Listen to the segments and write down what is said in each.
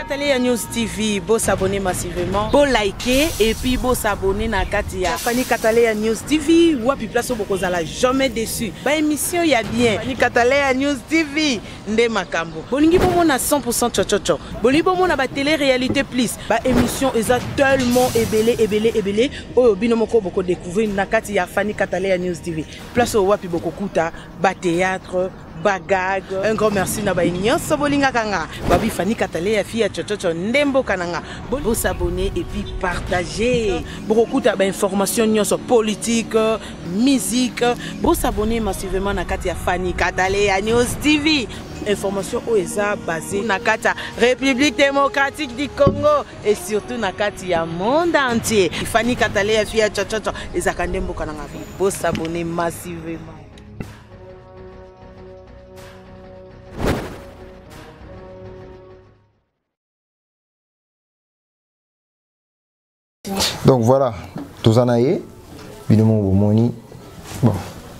Télé ya News TV, beau s'abonner massivement, beau liker et puis beau s'abonner na kati ya Fanny Katale ya News TV, wapi place boko zala jamais déçu. Ba émission ya bien. Fanny Katale ya News TV, nde makambo bolingi bomona 100% chochocho bolingi bomona ba télé réalité plus ba émission eza tellement ebele ebele ebele oyo bino moko boko découvrir na kati ya Fanny Katalea News TV place oyo wapi boko kuta ba théâtre bagag un grand merci na baye nyonso bolingaka nga babi fani katale ya fille ya chochocho nde mboka na nga bosabone epuis partage bokokuta bainformation nyonso politique musique bo s'abonner massivement na kati ya Fanny Katale ya News TV information oyo eza basée na kati ya république démocratique du congo et surtout na kati ya monde entier ifani katale ya fi ya chachacha ezalaka nde mboka na ngai bosabone massivement donc voilà toza na ye bino moko bomoni bon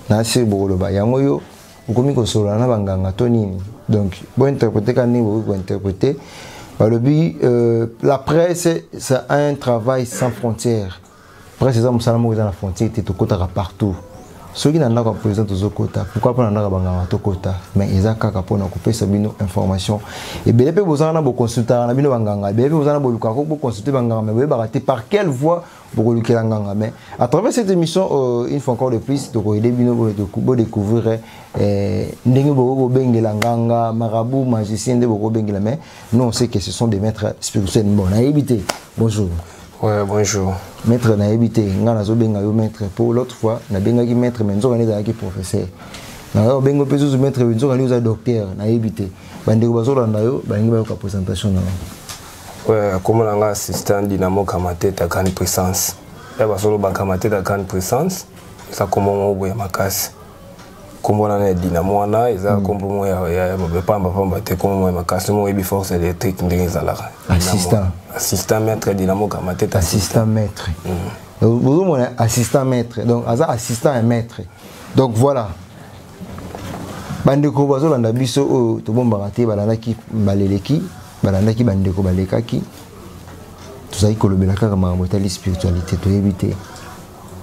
na se bokoloba yango yo okomi kosolola na banganga to nini donc bointerprete ka ndenge bokoki kointerprete balobi euh, la presse c'est un travail sans frontière presse eza mosala moko eza na frontière te tokotaka partout soki na ndako ya président tozokota pourkui mpo na ndako ya banganga tokota mais eza kaka mpo na kopesa bino information ebele mpe bozanga na boconsultaka na bino banganga ebele mpe bozanga na bolukaka boconsulte banganga mais boyebaka te par quelle voie bokolukela nganga mais à travers cette émission euh, une fois encore de plus tokoyede bino bodécouvrir euh, ndenge bokoki kobengela nganga marabout magicien nde bokoki kobengela mais non c'est que ce sont des maîtres spirituels bon nayebi te bonjour Ouais, bonjour. Maître nayebi te, nga nazobenga yo maître po l'autre fois nabengaki maître mais nzoka nde ezalaki professeur. Nayo bengo pe zuzu maître nzoka nde oza docteur nayebi te. Bandeko bazolanda yo balingi bayoka présentation na yo. Ouais, kombo na nga assistant Dynamo Kamateta Grande Puissance. Ya basolo ba Kamateta Grande Puissance eza kombo moko boye makasi. kombo nana ya dina mwana eza kombo hmm. moko ya mabe pamba pamba te kombo moko ya makasi moko oyebi force électrique ndenge ezalaka assistant assistant maître dinamo kamatete assistant maître hmm. ozomona assistant maître donc aza assistant ya maître donc voilà bandeko bazolanda biso oyo tobombaka te balandaki baleleki balandaki bandeko balekaki tozali kolobela kaka makambo etali spiritualité toyebi te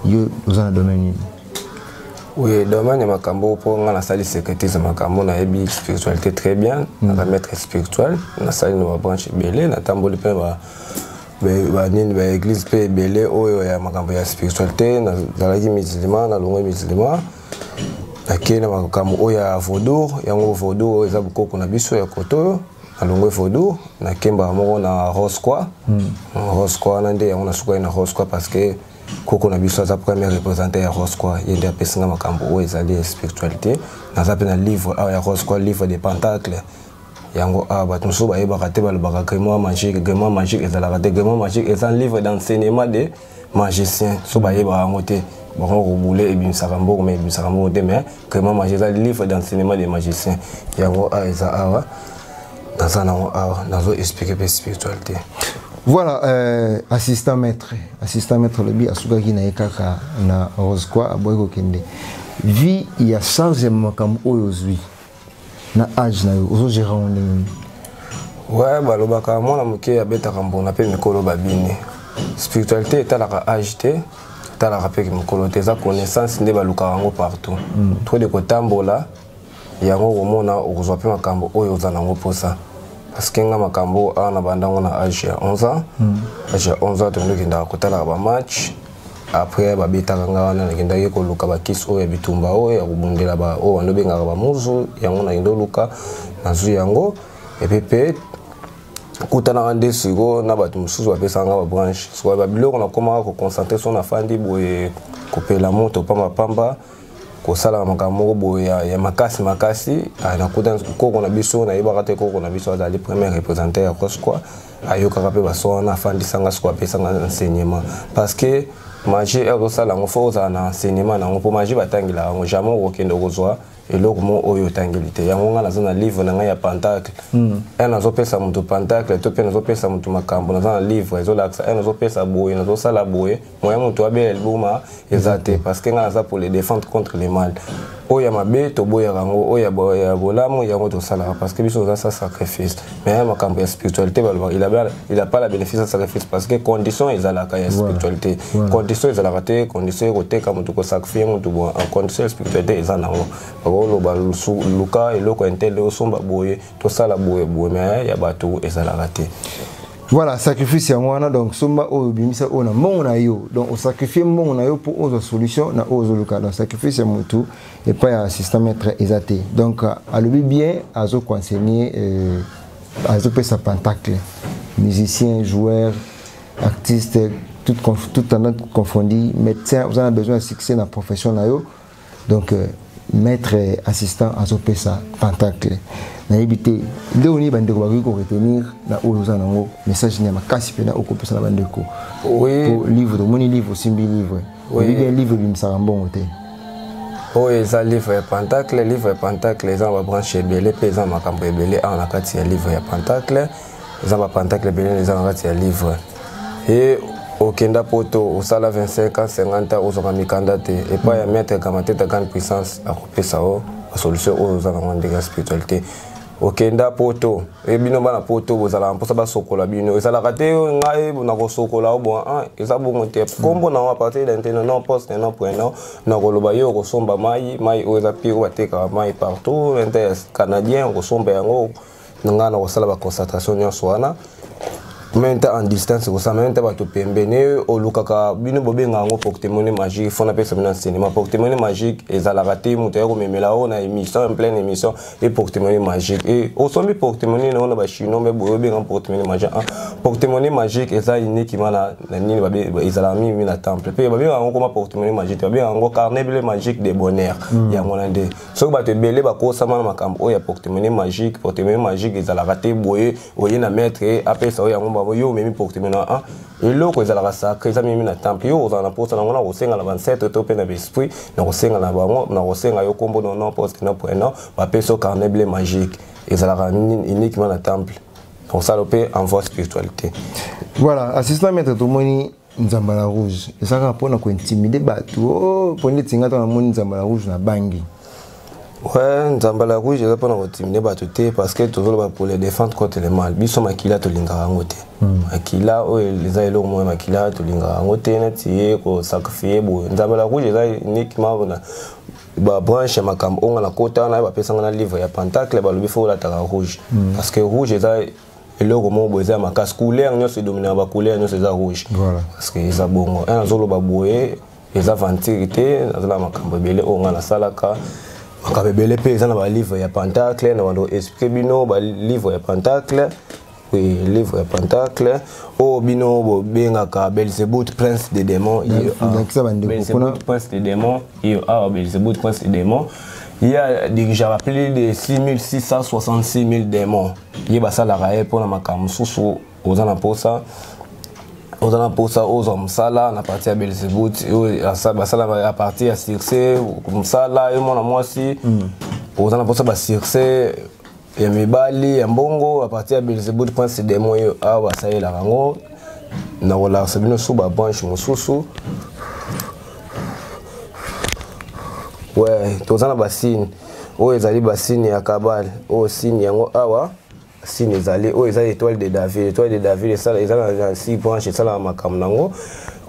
yo oza na domaine nini oui domaine ya makambo mpo ngai nasali secrétise ya makambo nayebi spiritualité très bien mm. naza maître spirituel nasali na babranche ebele natamboli mpe ba banini baeglise mpe ebele oyo ya makambo ya spiritualité nazalaki musulman nalongwe musulman nakei na makambo oyo ya vaudour yango vaudour oyo eza bokoko na biso ya koto oyo alongwe vodou nakembaka moko na rosqua hmm. rosqua wana nde yango nasukaki na rosqua parce que koko na biso aza premier représentant ya rosqua ye nde apesi nga makambo oyo ezali spiritualité naza mpe na livre awa ya rosqua livre de pentacle yango awa bato mosusu bayebaka te balobaka grimoire magique grimoire magique ezalaka te grimoire magique eza livre d'enseignement de magicien so bayebaka yango te bango kobule ebimisaka mbongo ma ebimisaka mbongo te mais crément magie eza livre d'enseignement de magicien yango awa eza awa naza nango awa nazo explike mpe spiritualité voilà euh, assistant maître assistant maître alobi asukaki na ye kaka na rose quoi aboyi kokende vie ya charge ya makambo oyo ozwi na age na yo ozo gérer yango ndenge nini ouais balobaka mwana moke abetaka mbona mpe mikolo babini spiritualité etalaka age te etalaka mpe mokolo te eza connaissance nde balukaka yango partout mm. trop de kotambola yango okomona okozwa mpe makambo oyo oza nango mposa parceke nga makambo awa na bandango na age ya 11 ans mm. age ya 11 ans tokendokendaka kotalaka bamatch après babetaka nga wana nakendaki koluka bakisi oyo ya bitumba oyo ya kobundela oyo wana obengaka bamuzu yango nakenda oluka nazwi yango epe mpe kutanaka nde sikoyo na bato mosusu bapesaka nga babranche sikoyo babiloko nakomaka koconcentre so nafandi boye kopela moto pambapamba kosalaka makambo moko boye ya, ya makasi makasi ah, nakuta koko na biso nayebaka te koko na biso azali premier représentant ya cosqua ayokaka mpe baso wana afandisa nga soko apesa nga enseignement parce que magie ekosala yango fo ozala na enseignement na yango mpo magie batangelaka yango jamais okokende okozwa eloko mo oyo otangeli te yango ngai naza na livre na ngai ya pentacle hmm. e nazopesa moto pentacle to mpe nazopesa moto makambo naza na livre ezolakisa e nazopesa boye nazosala boye moyen moto abela liboma eza te parce que ngai naza pour les défendre contre les mal oyo ya mabe toboyaka yango oyo ya bolamu yango tosalaka parce que biso oza sa sacrifice mais ya makambo ya spiritualité balobaka il a pas la bénéfice ya sacrifice parce que condition ezalaka ya spiritualité condition ezalaka te condition ekoteka moto kosacrifie moto boye en condition ya spiritualité eza nango bakoloba luka eloko ya ntele osomba boye tosala boye boye me ya bato ezalaka te voilà sacrifice yango wana donc somba oyo obimisa oyo na mbongo na yo donc osacrifie mbongo na yo mpo ozwa solution na oyo ozoluka donc sacrifice ya motu epai ya assistant maître eza te donc euh, alobi bien azoconsegne euh, azopesa pentacle musicien joueur artiste toute, toute tendance confondue médecin oza na besoin ya succès na profession na yo donc euh, maître assistant azopesa pentacle nayebi te nde oni bandeko bakoki koretenir na oyo oza nango message nini ya makasi mpena okopesa na bandeko po livre tomoni livre osimbi livre oyebi bien livre ebimisaka mbongo te oyo eza livre ya pentacle livre ya pentacle eza na babranche ebele mpe eza na makambo ebele awa na kati ya livre ya pentacle eza bapantakle ebele eza na kati ya livre ye okenda poto osala 25 ans 50 ans ozwaka mikanda te epai ya maître kamateta grande puissance akopesa yo basolution oyo oza nango ndenge ya spiritualité okenda poto e bino bana poto bozalaka mposa basokola bino ezalaka te yo ngai nakosokola yo bon ah, eza bongo te nkombo na yo apartir ya nteno non poste non prenom nakoloba yo okosomba mai mai oyo eza pire batekaka mai partout inter canadien okosomba yango na ngai na kosala ba concentration nyonso wana meme nta en distance kosala meme nta bato pembeni olukaka bino bobenga yango portemone magique fo napesa bino enseignement portemone magique ezalaka te moto aya komemela oyo na émission en pleine émission e portemone magique e osombi portemone na oyo na bachinois me boye obenga portemone magique ah, portemone magique eza inikima na nini ezalaka mingi na temple mpe babengaka yango koma portemone magique te babengaka yango carnet ble magique de bonheur hmm. yango na nde soki bato ebele bakosama na makambo oyo ya portemone magique portemone magique ezalaka te boye oye na maître apesa oyo yango bango yo omemi portemone a ah, eloko ezalaka sacre eza mimi na temple yo ozala na mposa nango na kosenga na bancetre to mpe na baesprit na kosenga na bango na kosenga yo nkombo no non poste na point non bapesa yo carnet ble magique ezalaka uniquement na temple kosala mpe envoi spiritualité voilà assistant maître tomoni nzambala rouge eza kaka mpona kointimide bato o oh, mpo ndeti ngai ntango namoni nzambala rouge na bangi Ouais, Nzambala Rouge, je vais pas continuer à tout parce que toujours pour les défendre contre les mal. Biso makila to lingara ngote. Hmm. Makila o les aïlo mo makila to lingara ngote na tiye ko sacrifier bo. Nzambala Rouge eza uniquement bona ba branche ya makambo onga na kota na bapesanga na livre ya pentacle balobi fo olataka rouge hmm. parce que rouge eza eloko moko boye eza ya makasi couleur nyonso edominaka bacouleur nyonso eza rouge voilà. parce que eza bongo un azoloba boye eza ventire te nazala makambo ebele oyo ngai nasalaka makambo ebele mpe eza na balivre ya pentacle na bando explike bino balivre ya pentacle oui, livre ya pentacle oyo oh, bino bobengaka belzebut prince de démon prince de démon iyo awa ah, belzebut prince de démon ye dirigeaka plus de 6666 000 démons ye basalaka ye mpo na makambo mosusu oza na mposa oza na mposa ozwa mosala na parti ya belzebut oyo basalaka a partir ya succès mosala ye mwana mwasi mm. oza na mposa basuccès ya mibali ya mbongo a partir ya belzebut prince demo yo awa basalelaka yango na kolakisa bino su babranche mosusu we toza na basine oyo ezali basini ya kabale oyo sini yango awa sini ezali oyo eza étoile de david étoile de david eza na six branche esalaka makambo na yango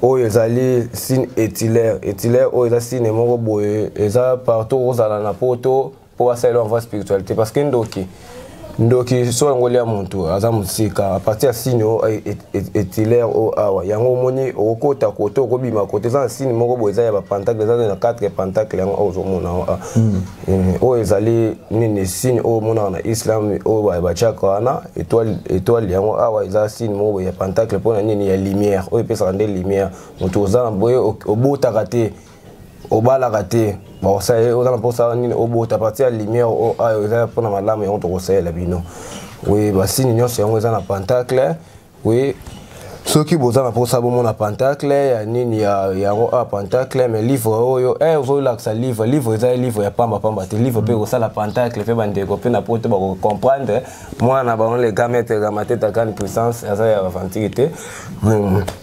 oyo ezali sine etilaire etilaire oyo eza sine moko boye eza partout ozala na poto mpo basalela envoi spiritualité parce que ndoki ndoki so yango lia motu aza mosika apartir ya sini o etilaire o awa yango omoni okokota kote okobima kote eza na sini moko boye eza ya bapantacle eza na quatre pantacle yango oyo ozomona yango ah. hmm. eh, oyo ezali nini sini oyo omonaka na islam oyo batiaka wana etoile yango awa eza sini moko boye ya pantacle mpona nini ya lumière oyo epesaka nde lumière motu oza na boye obotaka te obalaka te bakosala ye oza na mposa nini obota parti ya lumière oyo ah, eza mpona malamu yango tokosalela bino oye basini nyonso yango eza na pentacle oye soki boza na mposa bomona pentacle ya nini yango a ah, pentacle mais livre oyo e eh, ozolakisa livre livre eza livre ya pamba pamba te livre mpe mm. ekosala pentacle mpe bandeko mpe na poto bakocomprendre mwana na bango le gamete gamatetakani puissance aza ya aventure te mm.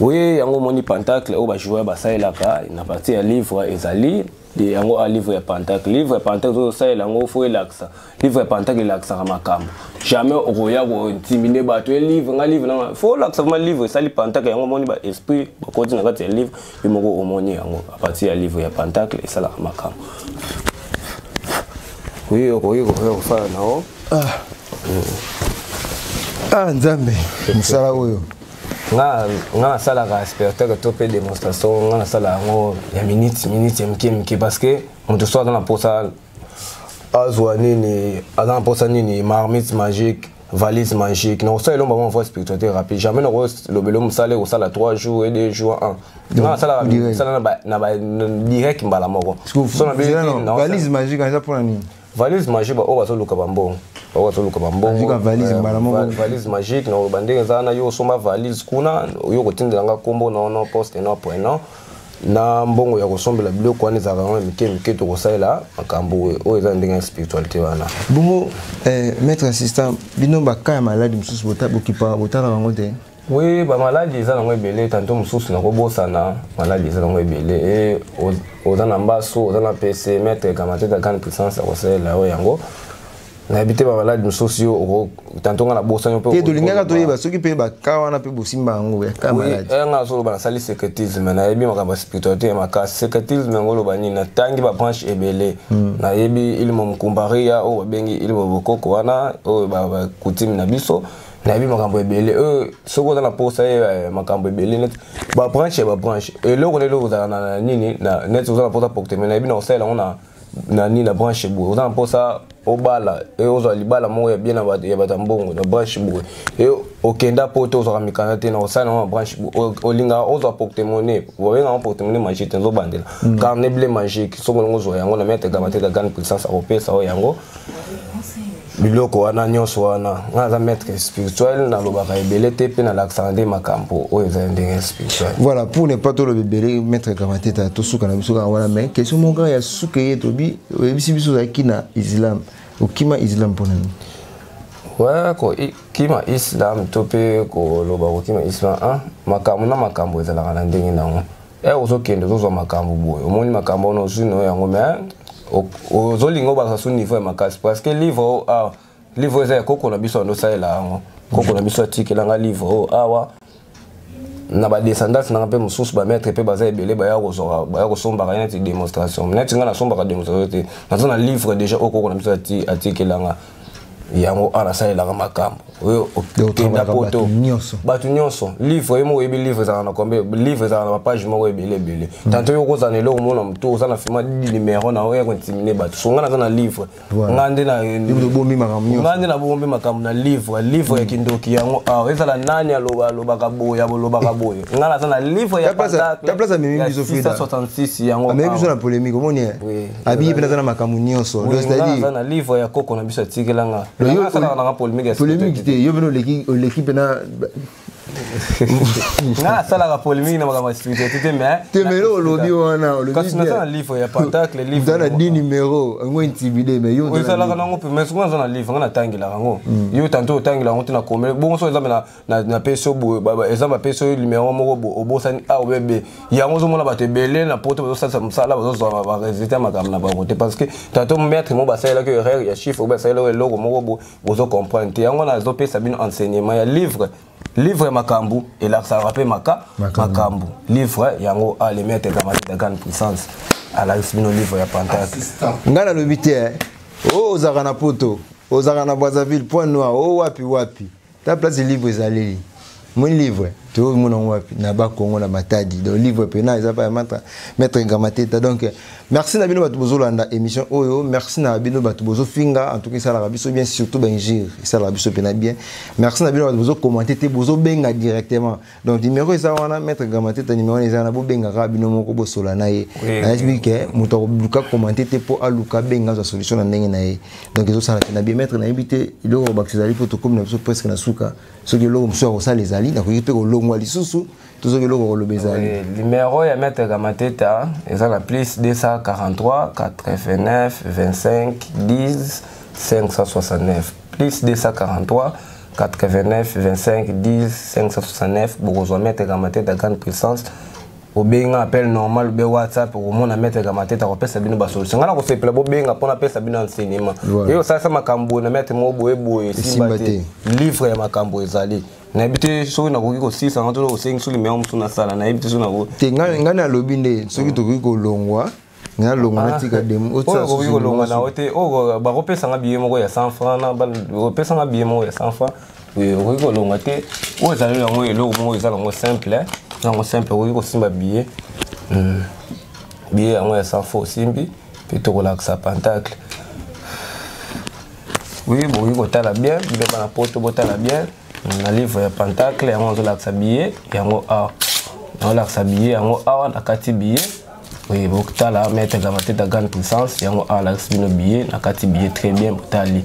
Oui, yango moni pentacle oyo bajoueur basalelaka na parti ya livre ezali de yango a livre ya pentacle livre ya pentacle tozosalela yango fo elakisa livre ya pentacle elakisaka makambo jamais okoya kotimine bato e livre nga livre nanga fo olakisa vraimen livre esali pentacle yango omoni ba esprit bakoti na kati ya livre yo moko omoni yango a partir ya livre ya pentacle esalaka makambo oyo okoki koya kofala na yo ah. ah nzambe mosala oyo nga nga nasalaka spectacle to mpe démonstration nga nasala yango ya minute minute ya mike mike parce que moto so aza na mposa azwa nini aza na mposa nini marmite magique valise magique nakosala elomba mwa voie spiritualité rapide jamais nakolobelo mosala ekosala 3 jours et 2 jours 1 nga nasalaka misala na direct mbala moko valise magique eza mpona nini valise magique baoyo bazoluka bambongo baoyo bazoluka bambongoka valise mbala moko valise magique na oloba ndenge eza wana yo osomba valise kuna yo kotindela nga nkombo na ono poste no prenant na mbongo ya kosombela biloko wana ezalaka yango mike mike tokosalela makambo oyo eza ndenge ya spiritualité wana bongo eh, maître assistant bino baka ya maladi mosusu bokipa botalaka yango te Oui, ba maladi eza nango ebele tanto mosusu nakobosana maladi eza nango ebele e oza na mbasu oza na pese maître gamateta grande puissance akosalela yo yango nayebi te bamaladi mosusu yo tanto ngai nabosani mpe tolingaka toyeba soki mpe baka wana mpe bosimba yango eh, ngai nazoloba nasali secretisme nayebi makambo ya spiritualité ya makasi secretisme yango oloba nini natangi babranche ebele hmm. nayebi ilimo mokumbaria oyo babengi ilimo bokoko wana oyo bakutime na biso nayebi makambo ebele euh, soki oza na mposa ye eh, makambo ebele neti babranche ya babranche eloko na eloko ozala na nini neti oza na mposa pokte mai nayebi na kosalela yango na na nini na branche boye oza na mposa obala e ozwa libala moko ya bien ya bato ya mbongo na branche boye e okenda mpo te ozwaka mikanda te na kosala yango na branche olingaka ozwa portemone babengaka portemone magique te nzobandela mm. carnet ble magique soki olingi ozwa yango na mete gama te gagane puissance akopesa oyo yango biloko wana nyonso wana nga naza maître spirituel nalobaka ebele te mpe nalakisaka nde makambo oyo ezali ndenge spirituel voilà pour ne pas toloba ebele maître kamateta tosuka na biso kaka wana mais question moko ya suka ye tobi oyebisi biso ozalaki na islam okima islam mpo na nini ouais kokima islam to mpe koloba kokima islam makambo na makambo ezalaka na ndenge nango eh ozokende ozozwa makambo boye omoni makambo wana ozwi nayo yango me ozolinga obakisa su niveau ya makasi parce que livre oyo ah, awa livre oyo eza ya koko na biso ando osalela yango koko na biso atikelanga livre oyo oh, awa na badescendance nanga mpe mosusu bamaître mpe baza ebele baya kozwaka baya kosombaka ye neti démonstration neti ngai nasombaka démonstration te naza na livre déjà oyo koko na biso atikelanga yango awa nasalelaka makambo oyo okenda poto bato nyonso livre ye moko oyebi livre ezalaka na kombe livre ezalaka na bapage moko ebele ebele hmm. tanto yo okozala na eloko mona motu oza na fima numero na oya kointimine bato so ngai naza na livre ngai nde ngai nde nabombi makambo na livre livre ya hmm. kindoki yango awa ezala nani aloba alobaka boye abolobaka boye ngai naza na livre ya 666 yango awa abiye mpe naza na makambo nyonso aza na livre ya koko na biso atikela nga asalaka nanga polemike polemike te yo mpena oleki mpena nga nasalaka polemike na makambo ya spiritualité te mais te mais eloko olobi wana olobikasi naza na livre ya pentacle livre na 10 numero yango intimide mais yo osalaka nango mpe mais soki naza na livre nga natangelaka yango hmm. yo tanto otangelaka yango te na komele bongo so eza mena na, na peso boye exemple na peso numéro moko boye obosani a obe be yango ozomona bato ebele na poto bazosalisa mosala bazozwa baresultat ya makambo na bango te parce que tato maître moko basalelaki erreur ya chiffre obe asalelaki eloko moko boye bozo comprendre te yango nazopesa bino enseignement ya livre livre makambo elakisaka mpe maka makambo livre yango a le maître ekamati de grande puissance alakisi bino livre ya pantake ngai nalobi te eh. o oh, ozalaka na poto ozalaka na brazzaville point noir o oh, wapi wapi ta place livre ezaleli mon livre toyoki mona yango wapi na bakongo na matadi donc livre pena eza pa mata maître ngamateta donc merci na bino bato bozolanda émission oyo merci na bino bato bozofinga en tout cas esalaka biso bien surtout baingire esalaka biso mpena bien merci na bino bato bozocommante te bozobenga directement donc numéro eza wana maître gamateta numéro wana eza wana bobengaka bino moko bosola na ye nayebiki ke moto akoluka komante te mpo aluka abenga azwa solution na ndenge na ye donc ezosala te na bien maître nayebi te eloko bakisa ezali mpo tokomi na biso presque na suka soki eloko mosusu akosala ezali nakoki mpe kolongwa lisusu to soki eloko koloba ezali numero ya maître gamateta eza na plus 243 89 25 10 569 plus 243 89 25 10 569 bokozwa mètre kamateta grande puissance obenga appel normal obe whatsapp okomona mètre kamateta akopesa bino basolution ngai nakosepela bobenga mpo napesa bino enseignement eye osalisa makambo boye na mètre moko boye boye esimba te livre ya makambo ezali nayebi te soki nakoki kosilisa yango to kosengi so limero mosusu nasala nayebi te soki te ngai nalobi nde soki tokoki kolongwa nalonga natika ah, demo oyo okoki kolonga na yo te oyo bakopesa nga biye moko ya 100 franc opesa nga biye moko ya 100 franc okoki kolonga te oyo ezali yango eloko moko eza nango simple eh. yango simple okoki kosimba biye hmm. biye yango ya 100 franc osimbi mpe tokolakisa pentacle oui bokoki kotala bien bino bana poto botala bien hmm, na livre ya pentacle yango azolakisa biye yango awa ah. azolakisa biye yango awa ah, nakati biye Oui, bokutala maître Gamateta grande puissance yango awa alakisi bino billet na kati billet très bien botali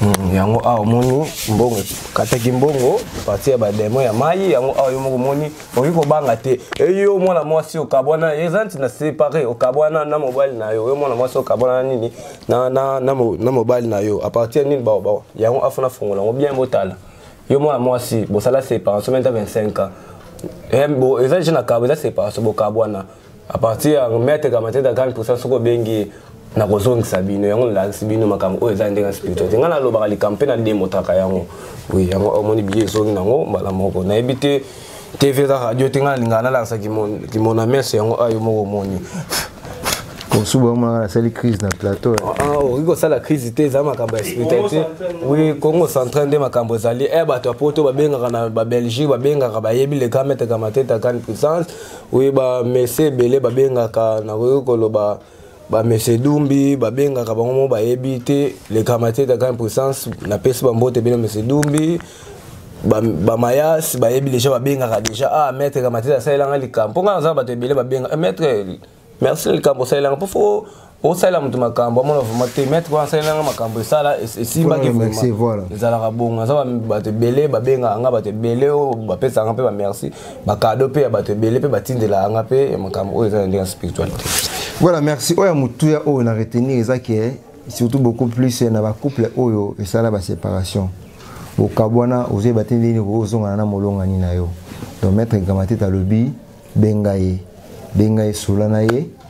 Hmm, yango awa omoni mbongo kataki mbongo pati ya bademo ya mai yango awa yo moko omoni okoki kobanga te eyo mwana mwasi okabwana eza nti na separe okabwana na mobali na yo yo mwana mwasi okabwana na nini na mobali na yo apartir ya nini yango afuna fongola yango bien botala yo mwana mwasi bosala séparation menta 25 ans eh, eza deja na kabo eza séparation bokabwana à partir ya maître kamatete akani mposa soki obengi ye nakozongisa bino yango nalakisi bino makambo oyo eza ndenge ya spiritualité ngai nalobaka likambo mpe nademotaka yango oui yango omoni biye ezongi nango mbala moko nayebi te tv eza radio te ngai nalingaka nalakisa kimona mese yango ayo moko omoni kosuba omaka nasali crise na plateau eh. ah, ah, okoki kosala crise te eza makambo ya spiritualité oui congo central nde makambo ezali e bato ya poto babengaka na babelgique babengaka bayebi le grand maître kamateta kane puissance oui bamese ebele babengaka nakoki koloba ba monsieur dumbi babengaka bango mo bayebi te le kamateta grand puissance napesi bambote bino monsieur dumbi bamayas ba bayebi deja babengaka deja ah maître kamateta asalelanga likambo mpo ngai naza bato ebele babenga eh, maître merci na likambo osalelanga mpo fo osalela moto makambo amona vraimen te maître wana asalelanga makambo esala esimbaki ezalaka bongo naza bato ebele babengaka nga bato ebele oyo bapesaka mpe bamerci bakado mpe ya bato ebele mpe batindelaka nga mpe ya makambo oyo eza na ndenge ya spiritualité voilà merci oyo ya motuya oyo na retenir eza ke surtout beaucoup plus na bacouple oyo esala baséparation okabwana ozoyeba te ndenge nini ozongana na molongani na yo donc maître gamatete alobi benga ye benga ye sola na ye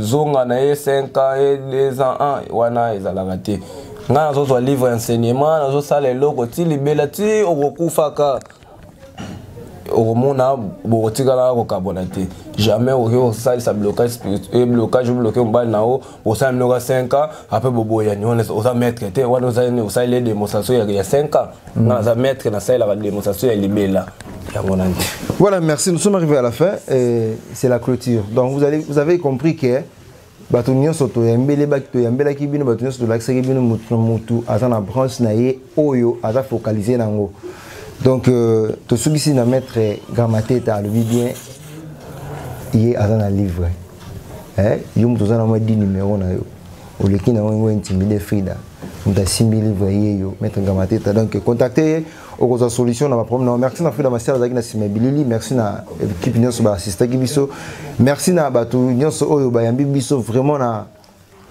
zonga na ye 5 ans ye 2 ans an wana ezalaka te ngai nazozwa livre ya enseignement nazosala eloko ti libela ti okokufaka okomona bokotikala kokabona te jamais okoki kosalisa blocage eh, blocage obloke mobali na yo bosala minoka 5 ans apres boboyani wana oza maître te wana osaleli demonstration ya 5 ans nga naza maître nasalelaka demonstration ya libela Voilà, merci. Nous sommes arrivés à la fin. C'est la clôture. Donc, vous, allez, vous avez compris que bato nyonso toyambelaki bino bato nyonso tolakisaki bino motu na motu aza na branche na ye oyo aza focalise na yango donc euh, tosukisi na maître gramateta alobi bien ye aza na livre eh? yo moto oza na mwa di numero na yo oleki na yango yango intimide frida moto asimbi livre ye yo maître gramateta donc contacte ye okozwa solution na baproblème na merci na frida masiala azalaki na sima bilili merci na équipe nyonso baassistaki biso merci na bato nyonso oyo bayambi biso vraiment na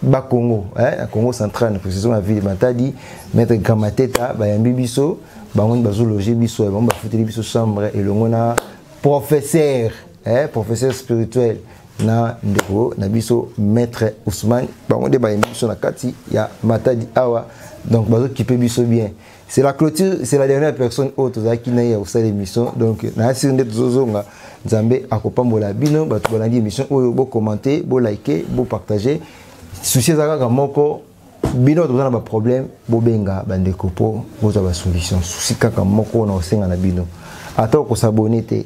bakongo eh, na congo central na précision na ville matadi maître gamateta bayambi biso bango nde bazologe biso bango bafuteli biso chambre elongo na professeur eh, professeur spirituel na ndeko na biso maître ousmane bango nde bayambi biso na kati ya matadi awa donc bazokipe biso bien c'est la clôture c'est la dernière personne oyo tozalaki na ye ya kosala émission donc naya siri nde tozozonga nzambe akopambola bino bato balandi émission oyo bocommente bolike bopartage souci eza kaka moko bino toza na baproblème bobenga bandeko mpo bozwa basolution souci kaka moko na kosenga na bino ata okosabone te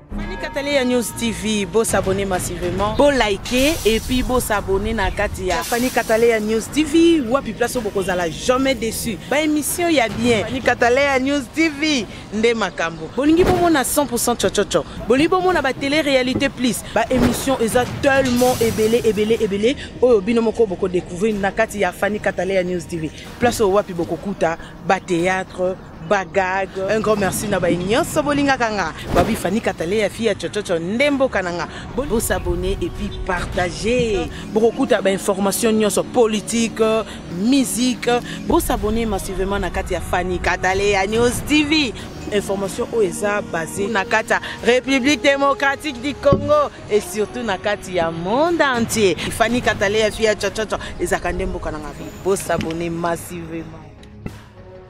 Kataleya News TV, beau s'abonner massivement. Beau liker et puis beau s'abonner na kati ya Fanny Kataleya News TV. Wapi place au bokozala jamais déçu. Ba émission ya bien. Fanny Kataleya News TV nde makambo. Bolingi bomo na 100% chochocho. Bolingi bomo na ba télé réalité plus. Ba émission eza tellement ebele ebele ebele oyo bino moko boko découvrir na kati ya Fanny Kataleya News TV. Place au wapi bokokuta ba théâtre bagag un grand merci na baye nyonso bolingaka nga babi fani katale ya fille ya cococo nde mboka na nga bosabone epuis partage bokokuta bainformation nyonso politique musique bosabone massivement na kati ya fani katale ya news tv information oyo eza base na kati ya république démocratique du congo et surtout na kati ya monde entier fani katale ya fille ya cococo ezalaka nde mboka na nga bosabone massivement